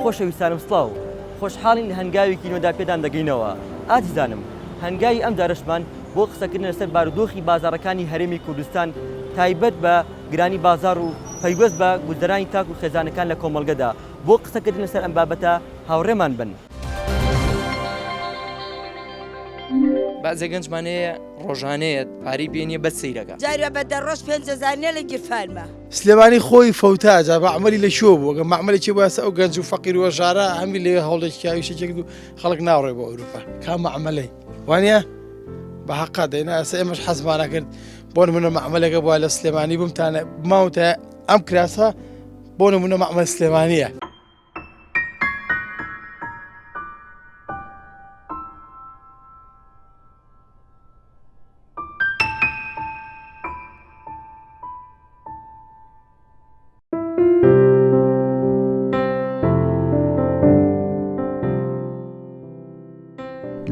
خۆشەویستانم سڵاو، خۆشحاڵین لە هەنگاوێکی نوێدا پێتان دەگەینەوە. ئازیزانم، هەنگاوی ئەم جارەشمان بۆ قسەکردنە لەسەر بارودۆخی بازاڕەکانی هەرێمی کوردستان تایبەت بە گرانی بازاڕ و پەیوەست بە گوزەرانی تاک و خێزانەکان لە کۆمەڵگەدا، بۆ قسەکردن لەسەر ئەم بابەتە هاوڕێمان بن. بەعزێ گەنجمان هەیە. ڕۆژانەیەت پارەی پێ نیە بەس سەیرەکە. جارێ بە دە ڕۆژ پێنج هەزار نیە لە گیرفانما. سلێمانی خۆی فەوتا جا مەعمەلی لە کوێ بوو گەر مەعمەلێکی بوایە سە ئەو گەنج و فەقیر و هەژارە هەمی لەوێ هەوڵێکی کە ئیشێکی کرد و خەڵک ناوڕێ بۆ ئەوروپا کام مەعمەلەی وانە بە حەقا دەینا ئەسە ئێمەش حەزمانە کرد بۆ نمونە مەعمەلەکە بووە لە سلێمانی بمتانە ماوتە ئەم کراسە بۆ نمونە مەعمەل سلێمانیە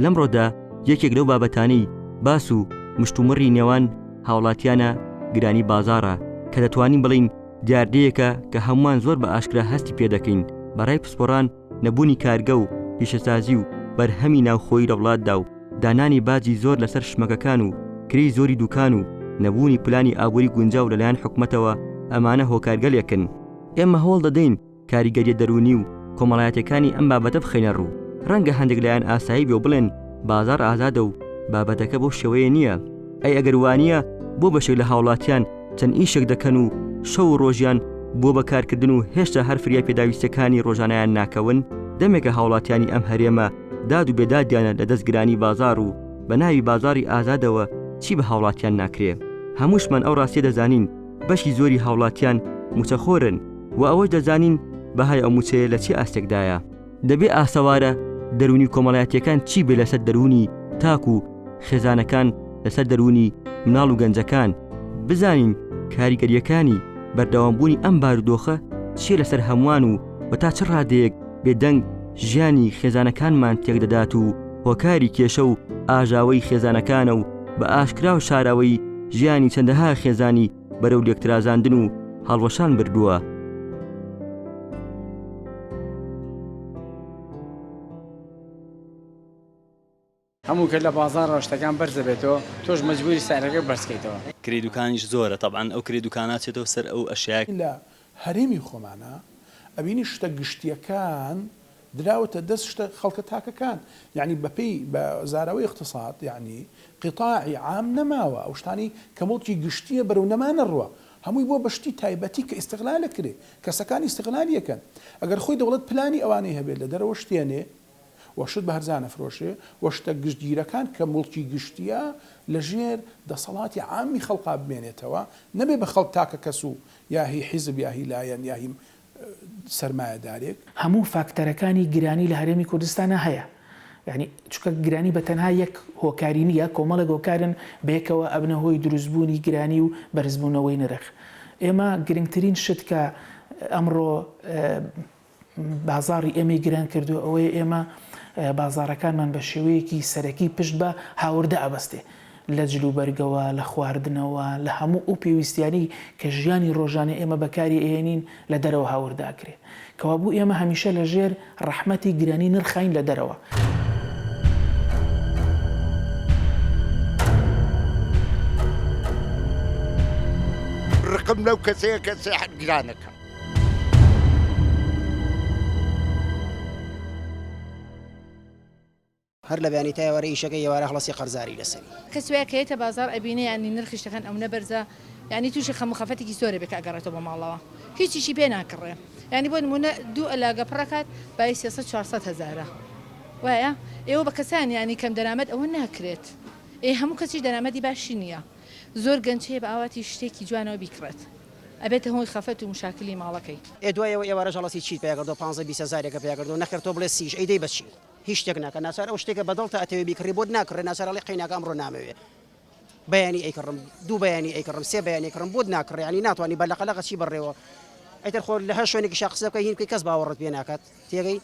لەمڕۆدا یەکێک لەو بابەتانی باس و مشتومڕی نێوان هاوڵاتیانە گرانی بازارە کە دەتوانین بڵین دیاردەیەکە کە هەمووان زۆر بە ئاشکرا هەستی پێ دەکەین، بە رای پسپۆڕان نەبوونی کارگە و پیشەسازی و بەرهەمی ناوخۆیی لە وڵاتدا و دانانی باجی زۆر لەسەر شمەکەکان و کرێی زۆری دووکان و نەبوونی پلانی ئابووری گونجاو لەلایەن حکومەتەوە ئەمانە هۆکارگەلێکن ئێمە هەوڵ دەدەین کاریگەریە دەروونی و کۆمەڵایەتیەکانی ئەم بابەتە بخەینە ڕوو، ڕەنگە هەندێک لایەن ئاسایی بێ و بڵێن بازاڕ ئازادە و بابەتەکە بەو شێوەیە نیە، ئەی ئەگەر وانیە بۆ بەشێک لە هاوڵاتیان چەند ئیشێک دەکەن و شەو و ڕۆژیان بووە بە کارکردن و هێشتا هەر فریای پێداویستیەکانی ڕۆژانەیان ناکەون؟ دەمێکە هاوڵاتیانی ئەم هەرێمە داد و بێدادیانە لە دەست گرانی بازاڕ و بە ناوی بازاڕی ئازادەوە چی بە هاوڵاتیان ناکرێ؟ هەمووشمان ئەو ڕاستیە دەزانین، بەشی زۆری هاوڵاتیان موچەخۆرن و ئەوەش دەزانین بەهای ئەو موچەیە لە چی ئاستێکدایە. دەبێ ئاسەوارە دەروونی کۆمەڵایەتیەکان چی بێ لەسەر دەروونی تاک و خێزانەکان لەسەر دەروونی مناڵ و گەنجەکان بزانین کاریگەریەکانی بەردەوامبوونی ئەم بارودۆخە چیە لەسەر هەموان و وە تا چ ڕادەیەک بێدەنگ ژیانی خێزانەکانمان تێکدەدات و هۆکاری کێشە و ئاژاوەی خێزانەکانە و بە ئاشکرا و شاراوەی ژیانی چەندەها خێزانی بەرەو لێکترازاندن و هەڵوەشان بردووە. هەموو کەس لە بازاڕەوە شتەکان بەرز دەبێتەوە تۆش مەجبوری سعرەکە بەرز کەیتەوە. کرێی دوکانیش زۆرە تەبعەن ئەو کرێی دوکانە چێتەوە سەر ئەو ئەشیایە. لە هەرێمی خۆمانا ئەبینی شتە گشتیەکان دراوەتە دەست شتە خەڵکە تاکەکان یانی بەپێی بە زاراوەی اقتصاد یانی قیتاعی عام نەماوە ئەو شتانی کە موڵکی گشتیە بەرەو نەمانە ڕوا هەمووی بۆ بە شتی تایبەتی کە استغلالە کرێ کەسەکان استغلالیەکەن ئەگەر خۆی دەوڵەت پلانی ئەوانەی هەبێت لە دەرەوە شتێنێ و شت بە هەرزان ئەفرۆشێ و شتە گشتگیرەکان کە موڵکی گشتییە لە ژێر دەسەڵاتی عامی خەڵقا بمێنێتەوە نەبێ بە خەڵک تاکە کەس و یا هی حیزب یا هی لایەن یا هی سەرمایەدارێک. هەموو فاکتەرەکانی گرانی لە هەرێمی کوردستانا هەیە یانی چونکە گرانی بە تەنها یەک هۆکاری نییە کۆمەڵێک هۆکارن بەیەکەوە ئەبنە هۆی دروست بوونی گرانی و بەرزبوونەوەی نرخ ئێمە گرنگترین شت کە ئەمڕۆ بازاڕی ئێمەی گران کردووە ئەوەیە ئێمە بازاڕەکانمان بە شێوەیەکی سەرەکی پشت بە هاوردە ئەبەستێ لە جل و بەرگەوە، لە خواردنەوە، لە هەموو ئەو پێویستیانەی کە ژیانی ڕۆژانە ئێمە بەکاری ئەهێنین لە دەرەوە هاوردە ئەکرێ. کەوابوو ئێمە هەمیشە لە ژێر ڕەحمەتی گرانی نرخین لە دەرەوە. ڕقم لەو کەسەیە کە سێحر گران ئەکا. هەر لە بەیانی تا ئێوارە ئیشەکە ئێوارە خڵەسی قەرزاری لەسەری. کەس وایە کە یەتە بازاڕ ئەبینێ یانی نرخی شتەکان ئەونە بەرزە یانی توشی خەم و خەفەتێکی زۆر ئەبێ کە ئەگەڕێتەوە بۆ ماڵەوە هیچیشی پێ ناکڕێ یانی بۆ نمونە دوو ئەلاگە پڕ ئەکات بایی سێ سەد چوار سەد هەزارە وایە ئێوە بە کەسان یانی کەم دەرامەت ئەوە ناکرێت ئێ هەموو کەسیش دەرامەتی باشی نییە زۆر گەنج هەیە بە ئاواتی شتێکی جوانەوە بیکڕێت. ئەبێتە هۆی خەفەت و مشاکلی ماڵەکەی. ئێ دوای ئەوە ئێوارە ژەڵەتی چیت پیا کردوە پانزە بیست هەزارێکە پیا کردوە نەخێر تۆ بڵێ سیش ئەیدەی بە چی هیچ شتێک ناکە ناچار ئەو شتێکە بە دڵتە ئەتەوێ بیکڕی بۆت ناکڕێ ناچار ئەڵێ قەیناکە ئەمڕۆ نامەوێ بەیانی ئەیکڕم دوو بەیانی ئەیکڕم سێ بەیانی ئەیکڕم بۆت ناکڕێ یانی ناتوانی بە لەقە لەقە چی بڕێوە ئیتر خۆ لە هەر شوێنێکیشا قسە بکەی هین بکەی کەس باوەڕت پێ ناکات تێگەی؟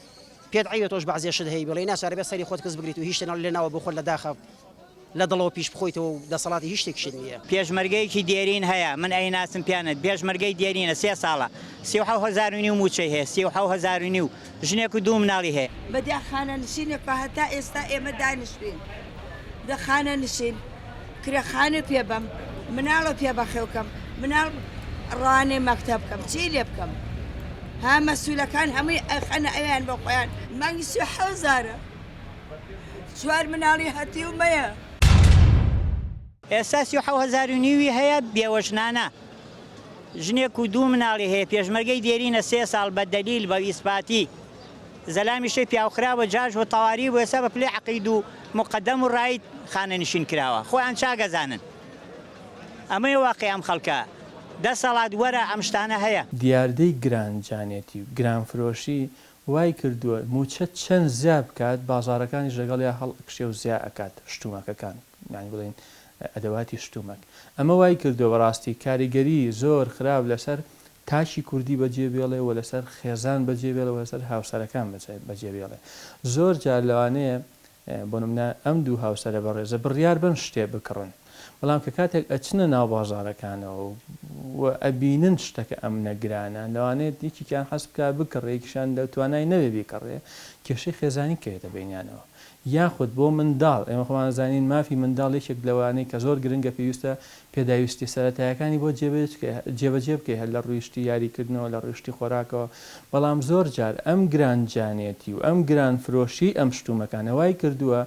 پێت عەیبە تۆش بەعزێ شت هەی بڵێی ناچار ئەبێت سەری خۆت کز بگریت و هیچ شتێ لە ناوە بۆخۆت لە داخە لە دڵەوە پیش بخۆیتەوە و دەسەڵاتی هیچ شتێکیشت نییە. پێشمەرگەیەکی دێرین هەیە من ئەیناسم پیانەت پێشمەرگەی دێرینە سێ ساڵە سی و حەو هەزار و نیو مووچەی هەیە سی و حەو هەزار و نیو ژنێک و دوو مناڵی هەیە. بەدیار خانەنشینێک بە هەتا ئێستا ئێمە دانیشتووین لە خانەنشین. کرێ خانوو پێ بەم مناڵە پێ بەخێو کەم مناڵ ڕەوانەی مەکتەب کەم چی لێ بکەم ها مەسولەکان هەمووی ئەخەنە ئەویان بۆ خۆیان مانگی سی حەوزارە چوار مناڵی هەتیو مەیە. ئێستا سی و حەو هەزار و نیوی هەیە بێوە ژنانە ژنێک و دوو مناڵی هەیە پێشمەرگەی دێرینە سێ ساڵ بە دەلیل بە ئیسپاتی. زەلامی شێی پیاو خراوە جاش و تەواری و ئێستا بە پلەی عەقید و موقەدەم و ڕاید خانەنشین کراوە خۆیان چاک ئەزانن ئەمەیە واقیع ئەم خەڵکە دەسەڵات وەرە ئەم شتانە هەیە. دیاردەی گران جانێتی و گران فرۆشی وای کردووە مووچە چەند زیا بکات بازاڕەکانیش لەگەڵیا هەڵ ئەکشێ و زیا ئەکات شتوماکەکان یانی بڵێین ئەدەواتی شتومەک ئەمە وای کردووە بە ڕاستی کاریگەری زۆر خراپ لە سەر تاکی کوردی بە جێ بێڵێ و لە سەر خێزان بە جێ بێڵێ و لە سەر هاوسەرەکان بە جێ بێڵێ زۆر جار لەوانەیە بۆ نمونە ئەم دوو هاوسەرە بەڕێزە بڕیار بەن شتێ بکڕن بەڵام کە کاتێک ئەچنە ناو بازارەکانەوە و ئەبینن شتەکە ئەم نەگرانە لەوانەیە دیکیان حەسبکە بکڕێکیشان لە توانای نەوێ بیکڕێ کێشەی خێزانی کەێتە بینیانەوە یاخود بۆ منداڵ، ئێمە خۆمان ئەزانین مافی منداڵ یەکێک لەوانەی کە زۆر گرنگە پێویستە پێداویستیە سەرەتایەکانی بۆ جێبەجێ بکەی هەر لە ڕووی شتی یاری کردنەوە لە ڕووی شتی خۆراکەوە بەڵام زۆر جار ئەم گران جانێتی و ئەم گران فرۆشی ئەم شتومەکانە وای کردووە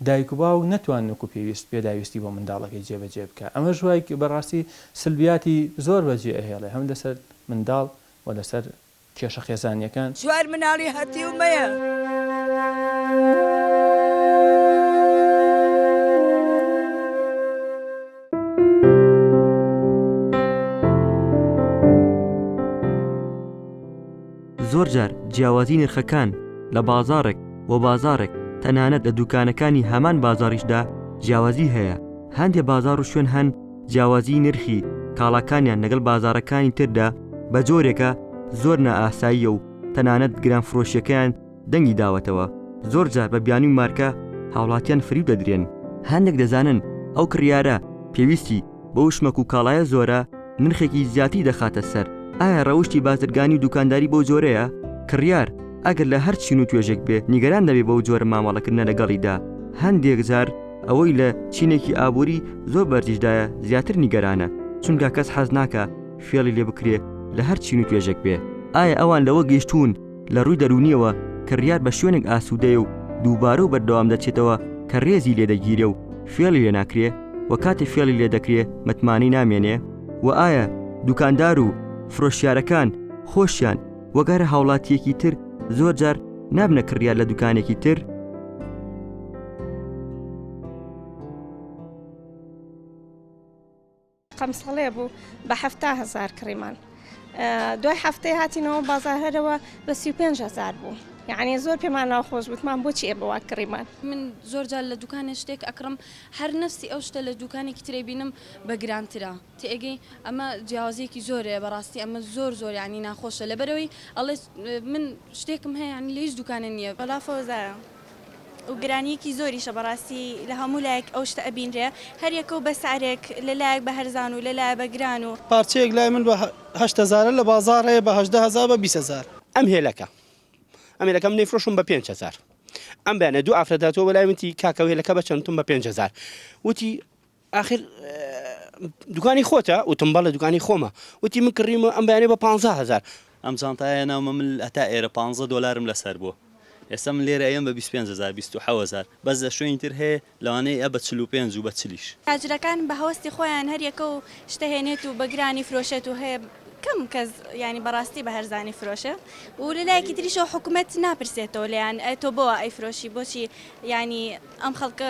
دایک و باوک نەتوان وەکو پێویست پێداویستی بۆ منداڵەکەی جێبەجێ بکا ئەمەش وای بەڕاستی سلبیاتی زۆر بەجێ ئەهێڵێ هەم لەسەر منداڵ و لەسەر کێشە خێزانیەکان. چوار مناڵی هەتیو مەیە. زۆرجار جیاوازی نرخەکان لە بازاڕێک بۆ بازاڕێک تەنانەت لە دوکانەکانی هەمان بازاڕیشدا جیاوازی هەیە هەندێ بازاڕ و شوێن هەن جیاوازیی نرخی کاڵاکانیان لەگەڵ بازاڕەکانی تردا بە جۆرێکە زۆر نائاساییە و تەنانەت گرانفرۆشییەکەیان دەنگی داوەتەوە، زۆر جار بە بیانووی مارکە هاوڵاتیان فریو دەدرێن. هەندێک دەزانن ئەو کڕیارە پێویستی بەو شمەک و کاڵایە زۆرە نرخێکی زیاتری دەخاتە سەر، ئایا ڕەوشتی بازرگانی و دووکانداری بەو جۆرەیە؟ کڕیار ئەگەر لە هەر چین و توێژێک بێ نیگەران دەبێ بەو جۆرە مامەڵەکردنە لەگەڵیدا هەندێک جار، ئەوەی لە چینێکی ئابووری زۆر بەرزیشدایە زیاتر نیگەرانە، چونکە کەس حەز ناکا فێڵی لێ بکرێ لە هەر چین و توێژێک بێ. ئایا ئەوان لەوە گەیشتوون لە ڕووی دەروونییەوە کڕیار بە شوێنێک ئاسوودەیە و دووبارە و بەردەوام دەچێتەوە کە رێزی لێ دەگیرێ و فێڵی لێ ناکرێ و کاتێ فێڵی لێ دەکرێ متمانەی نامێنێ؟ وە ئایا دووکاندار و فرۆشیارەکان خۆشیان وەگەر هاوڵاتیەکی تر زۆر جار نابنە کڕیار لە دوکانێکی تر قەمسەڵێ بوو بە هەفتا هزار کڕیمان دوای هەفتەی هاتینەوە بازارهرەوە بە سی پێنج هزار بوو یعنی زۆر پێمان ناوخۆش بتمان بۆچی ئێ بەوا کڕیمان من زۆر جار لە دوکانێ شتێک ئەکڕم هەر نفسی ئەو شتە لە دوکانێکی ترێ بینم بە گرانترە. تێگەی ئەمە جیاوازیەکی زۆر هەیە بەڕاستی ئەمە زۆر زۆر یانی ناخۆشە لەبەرەوەی ئەڵێ من شتێکم هەیە یانی لە هیچ دوکانە نییە. وەڵا فەوزایە و گرانیەکی زۆریشە بەڕاستی لە هەموو لایەک ئەو شتە ئەبینرێ هەر یەکە و بە سعرێک لە لایەک بە هەرزان و لە لایە بە گران و. پارچەیەک لای من بە هەشت هەزارە لە بازاڕ هەیە بە هەژدە هەزار بە بیست هەزار. ئەم هێلەکە ئەم هێلەکە من دەیفرۆشم بە پێنج هەزار ئەم بەیانە دوو ئافرەت هاتووە بەلای وتی کاکە ئەو هێلەکە بە چەند وتم بە پێنج هەزار وتی ئاخر دوکانی خۆتە؟ وتم بەڵێ دوکانی خۆمە. وتی من کڕیومە ئەم بەیانیە بە پانزا هەزار. ئەم جانتایە هێناومە من هەتا ئێرە پانزە دۆلارم لەسەر بووە. ئێستا من لێرە ئەیەم بە بیست و پێنج هەزار بیست و حەو هەزار. بەس لە شوێنی تر هەیە لەوانەیە ئەیە بە چل و پێنج و بە چلیش. تاجرەکان بە هەوەستی خۆیان هەر یەکە و شتە هێنێت و بە گرانی فرۆشێت و هەیە کەم کەس یانی بە ڕاستی بە هەرزانی فرۆشێ و لە لایەکی تریشەوە حکومەت ناپرسێتەوە لێیان ئەی تۆ بۆوا ئەیفرۆشی بۆچی یانی ئەم خەڵکە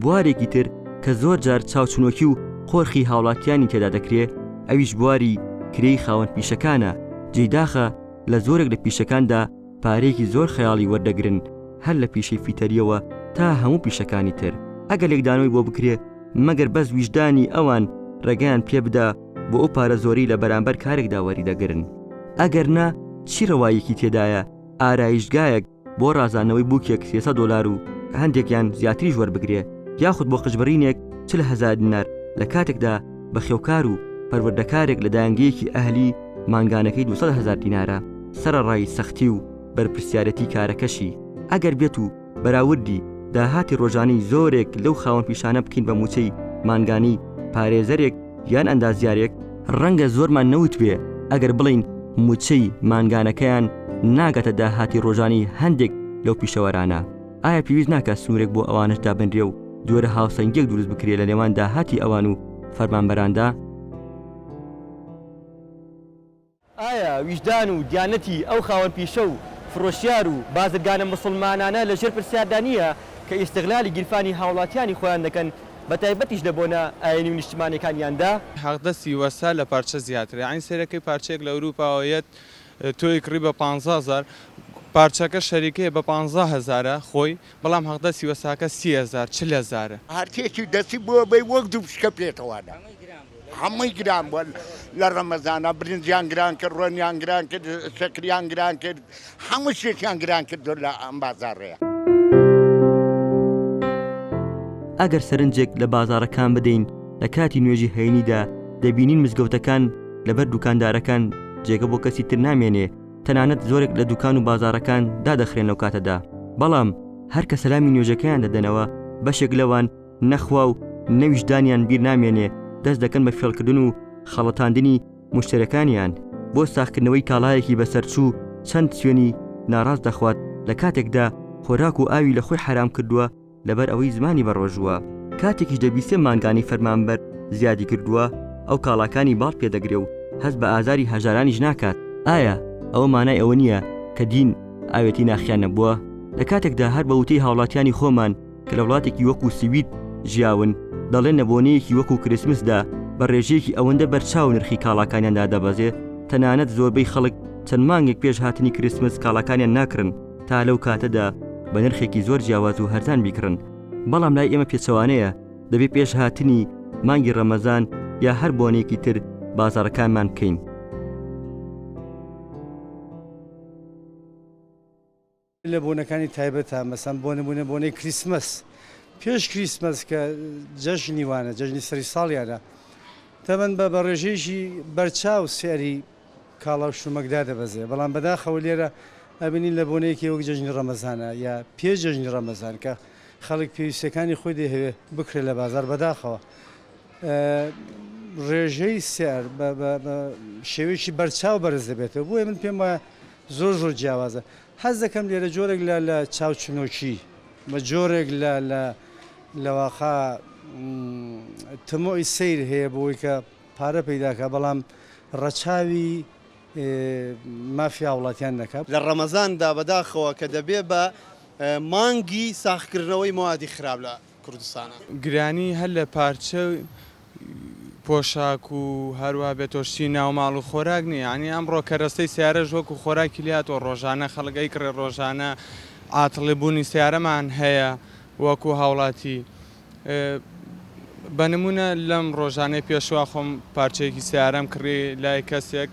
بوارێکی تر کە زۆر جار چاوچنۆکی و قۆرخی هاوڵاتیانی تێدا دەکرێ ئەویش بواری کرێی خاوەن پیشەکانە، جێی داخە لە زۆرێک لە پیشەکاندا پارەیەکی زۆر خەیاڵی وەردەگرن هەر لە پیشەی فیتەرییەوە تا هەموو پیشەکانی تر ئەگەر لێکدانەوەی بۆ بکرێ مەگەر بەس ویژدانی ئەوان ڕێگەیان پێ بدا بۆ ئەو پارە زۆرەی لە بەرامبەر کارێکدا وەریدەگرن ئەگەر نا چی ڕەواییەکی تێدایە ئارایشتگایەک بۆ ڕازاندنەوەی بووکێک سێسە دۆلار و هەندێکیان زیاتریش وەربگرێ یاخود بۆ قژبڕینێک چل هەزار دینار لە کاتێکدا بەخێوکار و پەروەردەکارێک لە دایەنگەیەکی ئەهلی مانگانەکەی دوو سەد هەزار دینارە سەرەڕای سەختی و بەرپرسیارێتی کارەکەشی ئەگەر بێت و بەراوردی داهاتی ڕۆژانەی زۆرێک لەو خاوەن پیشانە بکەین بە مووچەی مانگانەی پارێزەرێک یان ئەندازیارێک ڕەنگە زۆرمان نەوتبێ ئەگەر بڵین موچەی مانگانەکەیان ناگاتە داهاتی ڕۆژانی هەندێک لەو پیشەوەرانە، ئایا پێویست ناکات سنوورێک بۆ ئەوانەش دابنرێ و جۆرە هاوسەنگیەک دروست بکرێ لە نێوان داهاتی ئەوان و فەرمانبەراندا؟ ئایا ویژدان و دیانەتی ئەو خاوەن پیشە و فرۆشیار و بازرگانە موسڵمانانە لە ژێر پرسیاردا نییە کە ئیستغلالی گیرفانی هاوڵاتیانی خۆیان دەکەن بە تایبەتیش لە بۆنە ئاینی و نیشتمانیەکانیاندا؟ حەقدەستی وەستا لە پارچە زیاترە یانی سەیرە کەی پارچەیەک لە ئەوروپاوە یەت تۆی کڕی بە پانزە هەزار پارچەکە شەریکەیە بە پانزە هەزارە خۆی بەڵام هەقدەسی وەساکە سی هەزار چل هەزارە. هەرکێکی دەستی بۆ بەی وەک دوو پشکە پێتەوانە هەمووی گران بوە لە ڕەمەزانا برنجیان گران کرد ڕۆنیان گران کرد شەکریان گران کرد هەموو شتێکیان گران کردوە لە ئەم بازاڕەیا. ئەگەر سەرنجێک لە بازاڕەکان بدەین لە کاتی نوێژی هەینیدا دەبینین مزگەوتەکان لەبەر دوکاندارەکان جێگە بۆ کەسی تر نامێنێ، تەنانەت زۆرێک لە دوکان و بازاڕەکان دادەخرێن لەو کاتەدا، بەڵام هەر کە سەلامی نوێژەکەیان دەدەنەوە بەشێک لەوان نە خوا و نە ویژدانیان بیر نامێنێ دەست دەکەن بە فێڵکردن و خەڵەتاندنی موشتەرێکانیان بۆ ساخکردنەوەی کاڵایەکی بەسەرچوو چەند چوێنی ناڕاست دەخوات لە کاتێکدا خۆراک و ئاوی لە خۆی حەرام کردووە، لەبەر ئەوەی زمانی بەڕۆژووە کاتێکیش دەبیسێ مانگانەی فەرمانبەر زیادی کردووە ئەو کاڵاکانی باڵ پێ دەگرێ و هەست بە ئازاری هەژارانیش ناکات ئایا ئەوە مانای ئەوە نییە کە دین ئاوێتی ناخیان نەبووە؟ لە کاتێکدا هەر بە وتەی هاوڵاتیانی خۆمان کە لە وڵاتێکی وەکوو سوید ژیاون دەڵێن لە بۆنەیەکی وەکوو کریسمسدا بە ڕێژەیەکی ئەوەندە بەرچاو نرخی کاڵاکانیان دادەبەزێ تەنانەت زۆربەی خەڵک چەند مانگێک پێش هاتنی کریسمس کاڵاکانیان ناکڕن تا لەو کاتەدا بە نرخێکی زۆر جیاواز و هەرزان بیکڕن، بەڵام لای ئێمە پێچەوانەیە، دەبێ پێش هاتنی مانگی ڕەمەزان یا هەر بۆنەیەکی تر بازاڕەکانمان بکەین. لە بۆنەکانی تایبەتە، مەسەن بۆ نموونە بۆنەی کریسمەس، پێش کریسمەس کە جەژنی وانە، جەژنی سەری ساڵیانە، تەمەن بە بە ڕێژەیەکی بەرچاو سعری کاڵا و شتومەک دادەبەزێ، بەڵام بەداخەوە لێرە ئەبینین لە بۆنەیەکی وەک جەژنی ڕەمەزانە یا پێش جەژنی ڕەمەزان کە خەڵک پێویستیەکانی خۆی دەیهەوێ بکرێ لە بازار بەداخەوە ڕێژەی سعر بە شێوەیەکی بەرچاو بەرز دەبێتەوە بۆیە من پێم وایە زۆر زۆر جیاوازە حەز دەکەم لێرە جۆرێک لە لە چاوچنۆکی بە جۆرێک لە لە لەواقع تمۆی سیر هەیە بۆی کە پارە پەیداکا بەڵام ڕەچاوی مافی هاوڵاتیان نەکا. لە ڕەمەزان دا بەداخەوە کە دەبێ بە مانگی ساخکردنەوەی مەوادی خراپ لە کوردستانا. گرانی هەر لە پارچە و پۆشاک و هەروەها بێتۆشی ناو ماڵ و خۆراک نیە یانی ئەمڕۆ کەرەستەی سیارەش وەکو خۆراکی لێ هاتوە ڕۆژانە خەڵک ئەیکڕێ ڕۆژانە عاتڵی بوونی سیارەمان هەیە وەکو هاوڵاتی بە نموونە لەم ڕۆژانەی پێشوە خۆم پارچەیەکی سیارەم کڕی لای کەسێک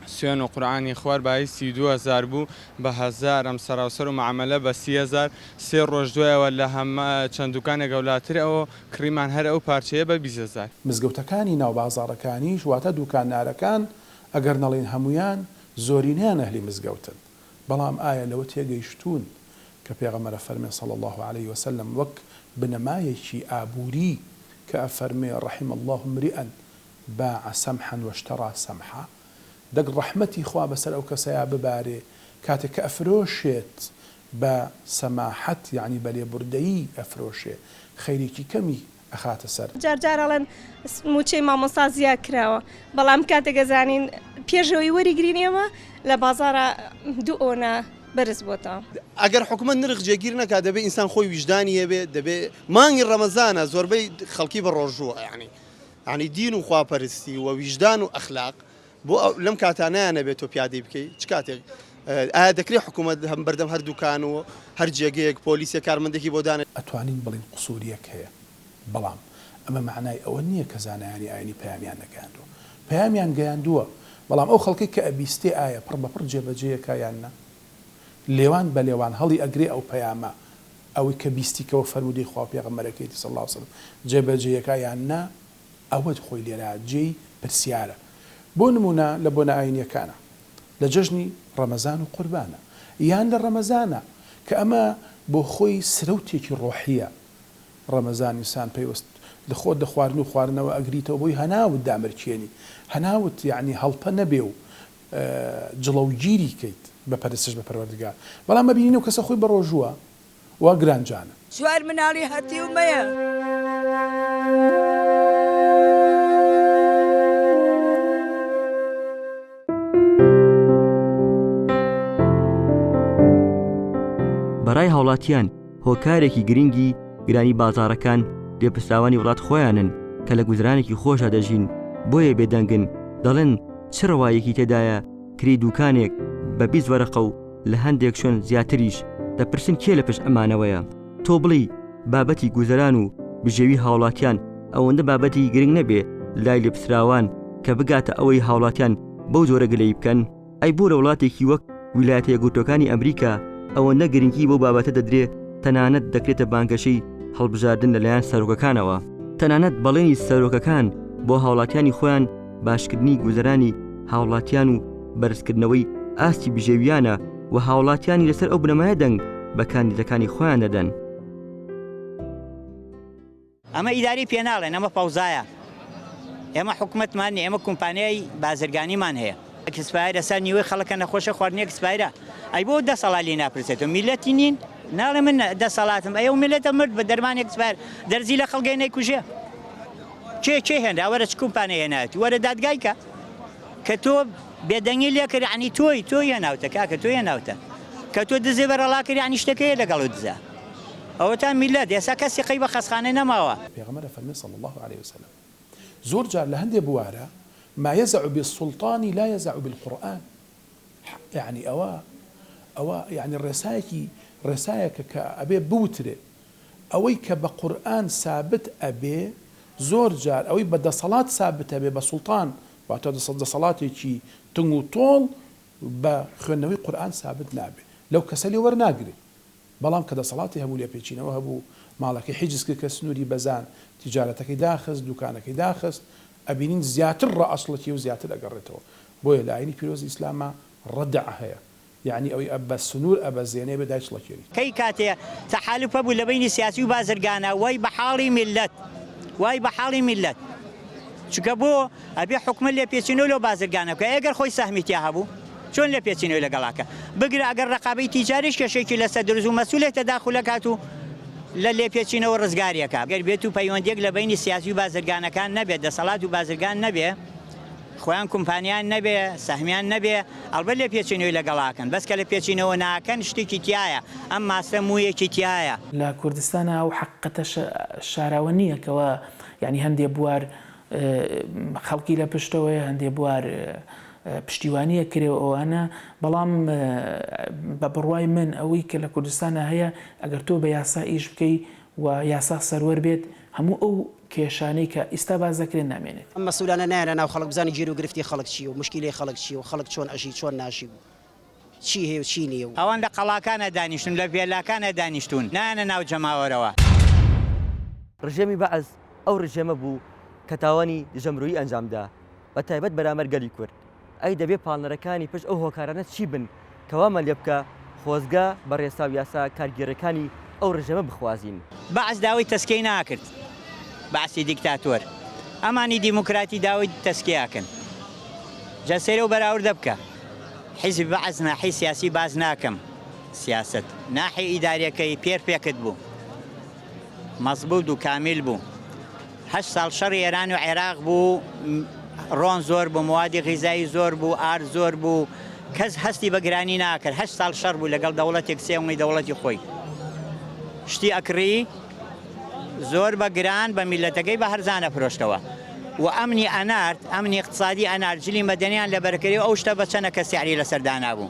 سوێن و قورعانی خوار بایی سی و دوو هەزار بوو بە هەزارم سەراوسەر و مەعەمەلە بە سی هەزار سێ ڕۆژ دوایەوە لە هەم چەند دوکانێک ئەولاتر ئەو کڕیمان هەر ئەو پارچەیە بە بیست هەزار. مزگەوتەکانی ناو بازاڕەکانیش واتە دوکاندارەکان ئەگەر نەڵێین هەموویان زۆرینەیان ئەهلی مزگەوتن. بەڵام ئایا لەوە تێگەیشتوون کە پێغەمبەرە فەرمێ صلی اللە علیە وسلم وەک بنەمایەکی ئابووری کە ئەفەرمێ رحم اللە امرئ باع سمحا واشتری سمحا دەک رەحمەتی خوا بەسەر ئەو کەسەیا ببارێ کاتێ کە ئەفرۆشێت بە سەماحەت یەعنی بە لێبوردەیی ئەفرۆشێ خەیرێکی کەمی ئەخاتە سەر. جار جار ئەڵێن مووچەی مامۆستا زیاد کراوە بەڵام کاتێک ئەزانین پێش ئەوەی وەریگرین ئێمە لە بازاڕا دوو ئۆنە بەرز بۆتەوە. ئەگەر حکومەت نرخ جێگیر نەکا دەبێ ئینسان خۆی ویژدانی هەبێ دەبێ مانگی ڕەمەزانە زۆربەی خەڵکی بەڕۆژووە یانی یانی دین و خواپەرستی و ویژدان و ئەخلاق بۆ لەم کاتا نایانەبێت تۆ پیادەی بکەی چ کاتێک ئایا دەکرێت حکوومەت هەم بەردەم هەردووکان و هەر جێگەیەک پۆلیسێک کارمەندێکی بۆ دانێت؟ ئەتوانین بڵێین قسوورییەک هەیە، بەڵام ئەمە مەعنای ئەوە نییە کە زانایانی ئایینی پەیامیان نەگەیاندووە. پەیامیان گەیاندووە، بەڵام ئەو خەڵکەی کە ئەبیستێ ئایا پڕ بە پڕ جێبەجێیەکا یان نا؟ لێوان بە لێوان هەڵی ئەگرێ ئەو پەیامە ئەوەی کە بیستیکەوە فەرموودەی خوا و پێغەمبەرەکەیەتی صلی اللە علیە وسلم جێبەجێیەکا یان نا؟ ئەوەت خۆی لێرە جێی پرسیارە بۆ نمونە لە بۆنە ئاینیەکانە لە جەژنی ڕەمەزان و قوربانە یان لە ڕەمەزانە کە ئەمە بۆ خۆی سرەوتێکی ڕۆحیە ڕەمەزان ئینسان پەیوەست لە خۆت لە خواردن و خواردنەوە ئەگریتەوە بۆی هەناوت دامرکێنی هەناوت یەعنی هەڵپە نەبێ و جڵەوگیری کەیت بە پەرستش بە پەروەردگار بەڵام مەبینی ئەو کەسە خۆی بە ڕۆژووە و گرانجانن. چوار مناڵی هەتیو مەیە. بەڕای هاوڵاتیان هۆکارێکی گرنگی گرانی بازاڕەکان لێپرسراوانی وڵات خۆیانن کە لە گوزرانێکی خۆشدا دەژین بۆیە بێدەنگن دەڵێن چ ڕەواییەکی تێدایە کرێی دووکانێک بە بیست وەرەقە و لە هەندێک شوێن زیاتریش، دەپرسن کێ لە پشت ئەمانەوەیە؟ تۆ بڵێی بابەتی گوزەران و بژێوی هاوڵاتیان ئەوەندە بابەتێکی گرنگ نەبێ لای لێپسراوان کە بگاتە ئەوەی هاوڵاتیان بەو جۆرە گلەیی بکەن؟ ئەی بۆ لە وڵاتێکی وەک ویلایەتە یەکگرتووەکانی ئەمریکا ئەوەندە گرنگی بەو بابەتە دەدرێ تەنانەت دەکرێتە بانگەشەی هەڵبژاردن لەلایەن سەرۆکەکانەوە؟ تەنانەت بەڵێنی سەرۆکەکان بۆ هاوڵاتیانی خۆیان باشکردنی گوزەرانی هاوڵاتیان و بەرزکردنەوەی ئاستی بژێویانە و هاوڵاتیانی لەسەر ئەو بنەمایە دەنگ بە کاندیدەکانی خۆیان دەدەن. ئەمە ئیداری پێ ناڵێن ئەمە فەوزایە ئێمە حکومەتمان نیە ئێمە کۆمپانیای بازرگانیمان هەیە ئەکسپایرە سەر نیوەی خەڵکە نەخۆشە خواردنی ئەکسپایرە ئەی بۆ دەسەڵا لێ ناپرسێت و میلەتی نین ناڵێ من دەسەڵاتم ئەی و میلەتە مرد بە دەرمانێک سپار دەرزی لە خەڵگەی نەیکوژێ کێ کێ هێنرا وەرە چ کومپانێ هێناویت وەرە دادگای کە کە تۆ بێدەنگی لێ کرد عنی تۆی تۆی هێناوتە کاکە تۆی هێناوتە کە تۆ دزێ بەرەڵا کرد عنی شتەکەی لەگەڵ دزە ئەوەتا میلەت ئێسا کەسی قەی بە خەسخانەی نەماوە. پێغەمبەر ئەفەرمێ صلی اللە علیە وسلم زۆر جار لە هەندێ بوارا ما یزع بالسلطان لا یزع بالقرآن یەعنی ئەوە ئەوە یەعنی ڕێسایەکی ڕێسایەکە کە ئەبێ بوترێ ئەوەی کە بە قورئان سابت ئەبێ زۆر جار ئەوەی بە دەسەڵات سابت ئەبێ بە سوڵتان واتە دەسەڵاتێکی تنگ و تۆڵ بە خوێندنەوەی قورئان سابت نابێ لەو کەسە لێ وەرناگرێ بەڵام کە دەسەڵاتی هەبوو لێپێچینەوە هەبوو ماڵەکەی حیجز کرد کە سنوری بەزاند تیجارەتەکەی داخست دوکانەکەی داخست ئەبینین زیاتر ڕە ئەسڵەکیە و زیاتر ئەگەڕێتەوە بۆیە لە ئاینی پیرۆزی ئیسلاما ڕەدع هەیە یەعنی ئەوی ئە بە سنور ئە بە زێنێ بێ دایچڵە کێری. کەی کاتێ تەحالوف هەبوو لە بەینی سیاسی و بازرگانا وای بە حاڵی میللەت وای بە حاڵی میللەت چونکە بۆ ئەبێ حکومەت لێپێچینەوە لەو بازرگانە بکا ئێگەر خۆی سەهمی تیا هەبوو چۆن لێپێچینەوەی لەگەڵا بکا بگرە ئەگەر ڕەقابەی تیجاریش کێشەیەکی لەسەر دروست بوو مەسولێ تەداخول ئەکات و لە لێپێچینەوە ڕزگاری ئەکا گەر بێت و پەیوەندیەک لە بەینی سیاسی و بازرگانەکان نەبێت دەسەڵات و بازرگان نەبێ خۆیان کومپانیان نەبێ سەهمیان نەبێ ئەڵبەت لێ پێچینەوەی لەگەڵ ئاکەن بەس کە لە پێچینەوە ناکەن شتێکی تیایە ئەم ماستە مویەکی تیایە. لە کوردستانا ئەو حەققەتە شاراوە نیە کەوا یانی هەندێ بوار خەڵکی لە پشتەوەیە هەندێ بوار پشتیوانیە کرێ و ئەوانە بەڵام بە بڕوای من ئەوەی کە لە کوردستانا هەیە ئەگەر تۆ بە یاسا ئیش بکەی و یاسا سەروەر بێت هەموو ئەو کێشانەی کە ئیستا باس دەکرێن نامێنێت. ئەم مەسولانە نایەنە ناو خەڵک بزانن گێرو گرفتی خەڵک چیە و مشکیلەی خەڵک چیە و خەڵک چۆن ئەژی چۆن ناژی و چی هەیە و چی نیە و. ئەوان لە قەڵاکانا دانیشتون لە ڤێلاکانا دانیشتون نایەنە ناو جەماوەرەوە. رژێمی بەعس ئەو رژێمە بوو کە تاوانی دژە مرۆیی ئەنجام دا. بە تایبەت بەرامبەر گەلی کورد، ئەی دەبێ پاڵنەرەکانی پشت ئەو هۆکارانە چی بن کە وامان لێ بکا خۆزگە بە رێسا و یاسا کارگێڕیەکانی ئەو رژێمە بخوازین؟ بەعس داوای تەسکیەی ناکرد بەعسی دیکتاتۆر ئەمانی دیموکراتی داوای تەسکی ئەکەن جا سەیر ئەو بەراوردە بکە حیزبی بەعس ناحی سیاسی باس ناکەم سیاست ناحی ئیداریەکەی پێرفێکت بوو مەزبووت و کامیل بوو. هەشت ساڵ شەڕی ئێران و عێراق بوو، ڕۆن زۆر بوو، موادی غیزایی زۆر بوو، ئارد زۆر بوو، کەس هەستی بە گرانی ناکرد، هەشت ساڵ شەڕ بوو لەگەڵ دەوڵەتێک سێ ونگی دەوڵەتی خۆی شتی ئەکڕی، زۆر بە گران بە میللەتەکەی بە هەرزان ئەفرۆشتەوە و ئەمنی ئەنارد، ئەمنی ئیقتسادی ئەنارد، جلی مەدەنیان لەبەرکرد و ئەو شتە بە چەنەکە سیعری لەسەر دانابوو.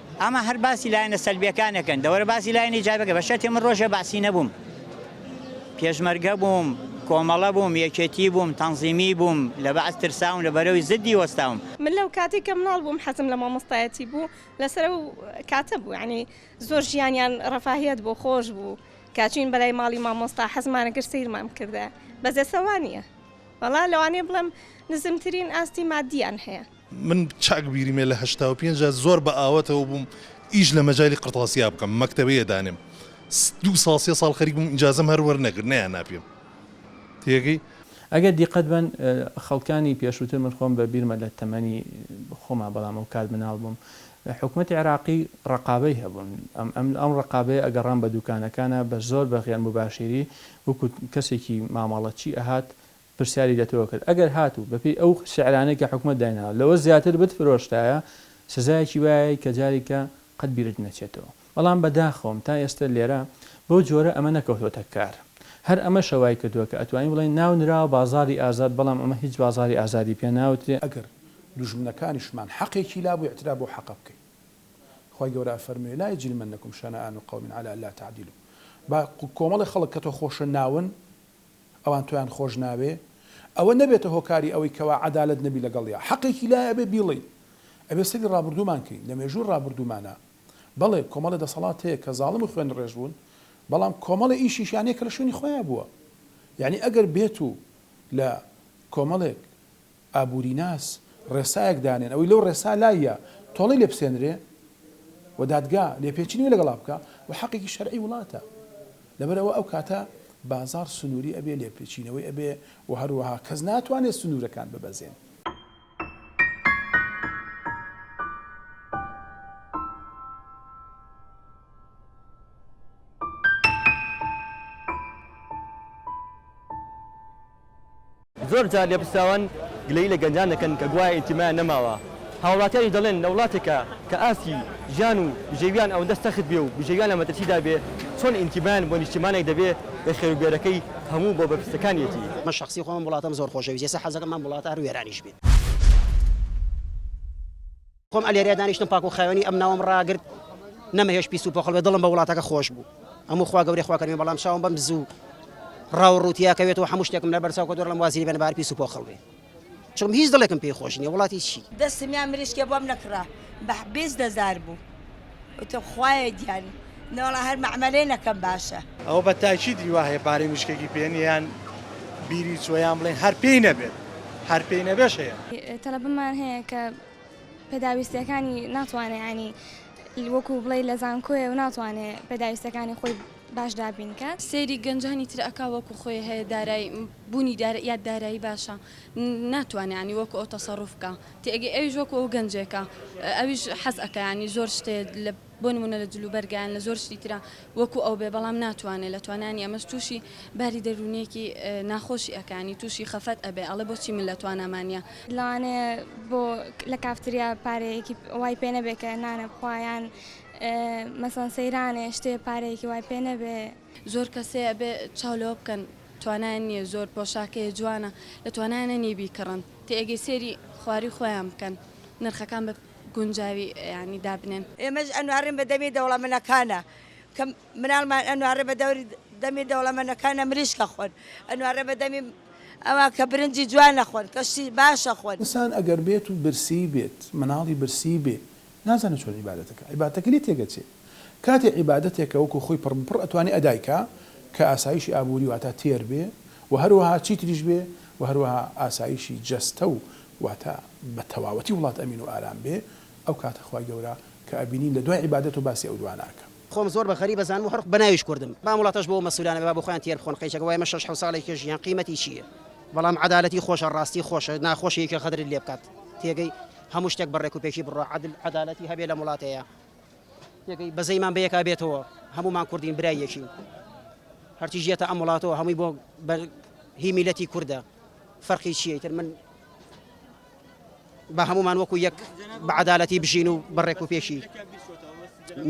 ئەمە هەر باسی لایەنە سەلبیەکانەکەن دەوەرە باسی لایەنە ئیجابەکە بە شەرتێ من ڕۆژێ بەعسی نەبووم پێشمەرگە بووم کۆمەڵە بووم یەکێتی بووم تەنزیمی بووم لە بەعس ترساوم لە بەرەوی زدی وەستاوم. من لەو کاتەی کە مناڵ بووم حەزم لە مامۆستایەتی بوو لەسەر ئەو کاتە بوو یانی زۆر ژیانیان ڕەفاهیەت بۆ خۆش بوو کاچین بەلای ماڵی مامۆستا حەزمانە گەر سەیرمان بکردە بەزێسەوانە وەڵا لەوانەیە بڵێم نزمترین ئاستی مادیان هەیە. من چاک بیریمە لە هەشتا و پێنج دا زۆر بە ئاوەتەوە بووم ئیش لە مەجالی قرتاسیا بکەم مەکتەبەیە دانێم دوو ساڵ سێ ساڵ خەریک بووم ئیجازەم هەر وەرنەگرت نەیاننا پێم تێگەی. ئەگەر دیقەت بەن خەڵکانی پێشووتر من خۆم بە بیرمە لە تەمەنی خۆما بەڵام ئەو کات مناڵ بووم حکومەتی عێراقی ڕەقابەی هەبوون ئەم ئەم ئەم ڕەقابەیە ئەگەڕام بە دووکانەکانا بە زۆر بە غێر موباشیری وەکوو کەسێکی مامەڵەچی ئەهات پرسیاری لە تۆ کرد ئەگەر هاتوو بە پێی ئەو سعرانەی کە حکومەت دایناوە لەوە زیاتر بت فرۆشتایە سزایەکی وایەی کە جارێکە قەت بیرت نەچێتەوە بەڵام بە داخەوەم تا ئێستە لێرە بەو جۆرە ئەمە نەکەوتۆتە کار هەر ئەمەشە وای کردووە کە ئەتوانین بڵێین ناو نراوە بازاری ئازاد بەڵام ئەمە هیچ بازاری ئازادی پێ ناوترێ. ئەگەر دوژمنەکانیشمان حەقێکی لابوو ئیعتراف بەو حەقە بکەین خوای گەورە ئەفەرموێ لا یجرمنکم شنآن قوم علی الا تعدلوا با کۆمەڵێ خەڵک کە تۆ خۆشە ناون ئەوان تۆیان خۆش ناوێ ئەوە نەبێتە هۆکاری ئەوەی کەوا عەدالەت نەبی لەگەڵیا حەقێکی لایە ئەبێ بیڵێی ئەبێ سەیری ڕابوردوومان کەین لە مێژووی ڕابوردوومانا بەڵێ کۆمەڵێ دەسەڵات هەیە کە زاڵم و خوێن ڕێژ بوون بەڵام کۆمەڵێ ئیشیشیان هەیە کە لە شوێنی خۆیا بووە یانی ئەگەر بێتوو لە کۆمەڵێک ئابووریناس ڕێسایەک دانێن ئەوەی لەو ڕێسا لایە تۆڵەی لێ بسێنرێ و دادگا لێپێچینی لەگەڵا بکا و حەقێکی شەرعی وڵاتە لەبەر ئەوە ئەو کاتە بازاڕ سنووری ئەبێ لێپێچینەوەی ئەبێ و هەروەها کەس ناتوانێ سنوورەکان ببەزێنێ. زۆر جار لێپرسراوان گلەیی لە گەنجان دەکەن کە گوایە ئینتیمایان نەماوە، هاوڵاتیانیش دەڵێن لە وڵاتێکا کە ئاستی ژیان و بژێویان ئەوەندە سەخت بێ و بژێویان لە مەترسیدا بێ چۆن ئینتیمایان بۆ نیشتیمانێک دەبێ کە خێروبێرەکەی هەموو بۆ بەرپرسەکانیەتی؟ من شەخسی خۆم ئەم وڵاتەم زۆر خۆشەویست ئێستا حەزەکەم ئەم وڵاتە هەر وێرانیش بێت. خۆم ئەلێرەیا دانیشتم پاک و خاوێنی ئەم ناوەم ڕاگرت نەمەهێشت پیس و پۆخڵ بێ دڵم بە وڵاتەکە خۆش بوو هەموو خوا گەورەی خوا کەریم بەڵام چاوم بەم زوو ڕاو ڕووتیا کەوێت و هەموو شتێکم لەبەر چاو کە دۆرڵم وازی بێن بار پیس و پۆخڵ بێ چون هیچ دڵێکم پێی خۆش نییە وڵاتی چی دەستم یان مریشکێ بۆم نەکڕا بە بیست هەزار بوو وتم خوایە گیان نەوەڵا هەر مەعمەلێ نەکەم باشە. ئەوە بە تاکیدی وا هەیە پارەی مریشکێکی پێ نییە یان بیری چووە یان بڵێن هەر پێی نەبێت هەر پێی نەبێش هەیە. تەلەبەمان هەیە کە پێداویستیەکانی ناتوانێ ینی وەکو بڵێ لە زانکۆێ و ناتوانێ پێداویستەکانی خۆی باش دابینکات سەیری گەنجانی تر ئەک وەکو خۆی هەیە دارای بوونی یا دارایی باشە ناتوانێت ینی وەکو ئەو تەسەڕوف بکە تێگەی ئەویش وەکو ئەو گەنجێکە ئەویش حەز ئەەکەیانی زۆر شتێ لە بۆ نموونە لە جلوبەرگە یان لە زۆر شتی ترا وەکو ئەو بێ بەڵام ناتوانێ لە توانانی ئەمەش تووشی باری دەروونیەکی ناخۆشی ئەکانی تووشی خەفەت ئەبێ ئەڵێ بۆچی من لە تواناما نیە. لەوانەیە بۆ لە کافتریا پارەیەکی وای پێ نەبێ کە نانە بخوا یان مەسەڵەن سەیرانێ شتێ پارەیەکی وای پێ نەبێ. زۆر کەسێ ئەبێ چاو لەوە بکەن توانایان نیە زۆر پۆشاکەیە جوانە لە توانایانە نیە بیکڕن تێ ئەگەی سێری خواری خۆیان بکەن نرخەکان بە. گونجاوی یانی دابنێن. ئێمەش ئەنوارێن بە دەمی دەوڵەمەنەکانە کە مناڵمان ئەنوارێ بە دەوری دەمی دەوڵەمەنەکانە مریشکە خۆن ئەنوارێ بە دەمی ئەوان کە برنجی جوانە خۆن کە شتی باشە خۆن. ئسان ئەگەر بێت و برسی بێت مناڵی برسی بێ نازانێ چۆن عیبادەتەکە عیبادەتەکە لێ تێگەچێ کاتێ عیبادەتێکە وەکو خۆی پڕ بپڕ ئەتوانێ ئەدای کا کە ئاسایشی ئابوری واتا تێر بێ و هەروەها چیتریش بێ و هەروەها ئاسایشی جەستە و واتە بە تەواوەتی وڵات ئەمین و ئارام بێ ئەو کاتە خوای گەورە کە ئەبینین لە دوای عیبادەت و باسی ئەو دوانە ئەکەم. خۆم زۆر بە غەریب ئەزانم و هەر بە ناویش کوردم بەام وڵاتەش بۆ مەسولانە بێ با بۆ خۆیان تێر بخۆن قەیچەکە وای ئەمە شەش حەوت ساڵە یەکێ ژیان قیمەتی چیە بەڵام عەدالەتی خۆشە ڕاستی خۆشە ناخۆشە یەکێ غەدرت لێ بکات تێگەی هەموو شتێک بە ڕێک و پێکی بڕوا عەدل عەدالەتی هەبێ لەم وڵاتەیا تێگەی بەزەیمان بە یەکا بێتەوە هەموومان کوردین برای یەکین هەرچیش یەتە ئەم وڵاتەوە هەمووی بۆ هی میلەتی کوردە. فەرقی چیە ئیتر من با هەموومان وەکو یەک بە عدالەتی بژین و بە ڕێک و پێشی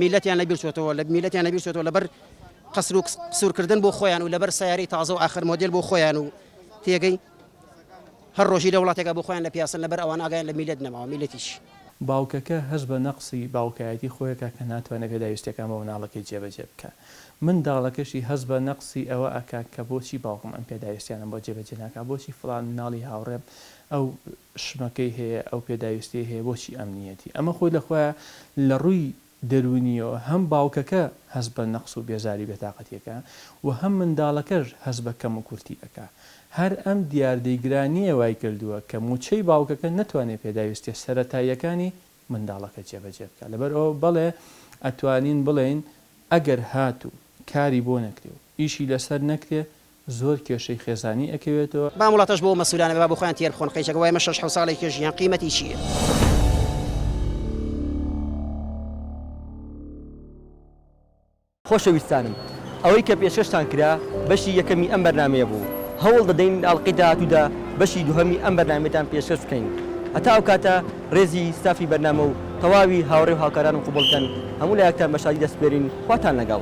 میلەتیان لە بیرچۆتەوە لە میلەتیان لە بیرچۆتەوە لەبەر قەسر و قسورکردن بۆ خۆیان و لەبەر سیارەی تازە و ئاخر مۆدل بۆ خۆیان و تێگەی هەر ڕۆژی لە وڵاتێکە بۆ خۆیان لە پیاسن لەبەر ئەوان ئاگیان لە میلەت نەماوە میلەتیش باوکەکە هەست بە نەقسی باوکایەتی خۆیەکە کە ناتوانێت پێداویستیەکان بۆ مناڵەکەی جێبەجێ بکات. من داڵەکەشی هەست بە نەقسی ئەوە ئەکا کە بۆچی باوکم ئەم پێداویستیانەم بۆ جێ بەجێ ناکا بۆچی فڵان مناڵی هاوڕێم ئەو شمەکەی هەیە ئەو پێداویستیەی هەیە بۆچی ئەم نیەتی ئەمە خۆی لە خۆیا لە ڕووی دەروونیەوە هەم باوکەکە هەست بە نەقس و بێزاری بێتاقەتی ئەکا و هەم منداڵەکەش هەست بە کەم و کورتی ئەکا هەر ئەم دیاردەی گرانیە وای کردووە کە موچەی باوکەکە نەتوانێ پێداویستیە سەرەتاییەکانی منداڵەکە جێبەجێ بکات لەبەر ئەوە بەڵێ ئەتوانین بڵێین ئەگەر هاتوو کاری بۆ نەکرێ و ئیشی لەسەر نەکرێ زۆر کێشەی خێزانی ئەکەوێتەوە. بەام وڵاتەش بۆ مەسولانە بە با بۆخۆیان تێر بخۆن قەیچەک وای ئەمە شەش حەوت ساڵێک کێ ژیان قیمەتی چیە. خۆشەویستانم ئەوەی کە پێشکەشتان کرا بەشی یەکەمی ئەم بەرنامەیە بوو هەوڵ دەدەین ئاڵقەی داهاتوودا بەشی دووهەمی ئەم بەرنامەیەتان پێشکەش بکەین هەتا ئەو کاتە ڕێزی ستافی بەرنامە و تەواوی هاوڕێ و هاوکارانم قبوڵ کەن هەموو لایەکتان بە شادی دەسپێرین خواتان لەگەڵ.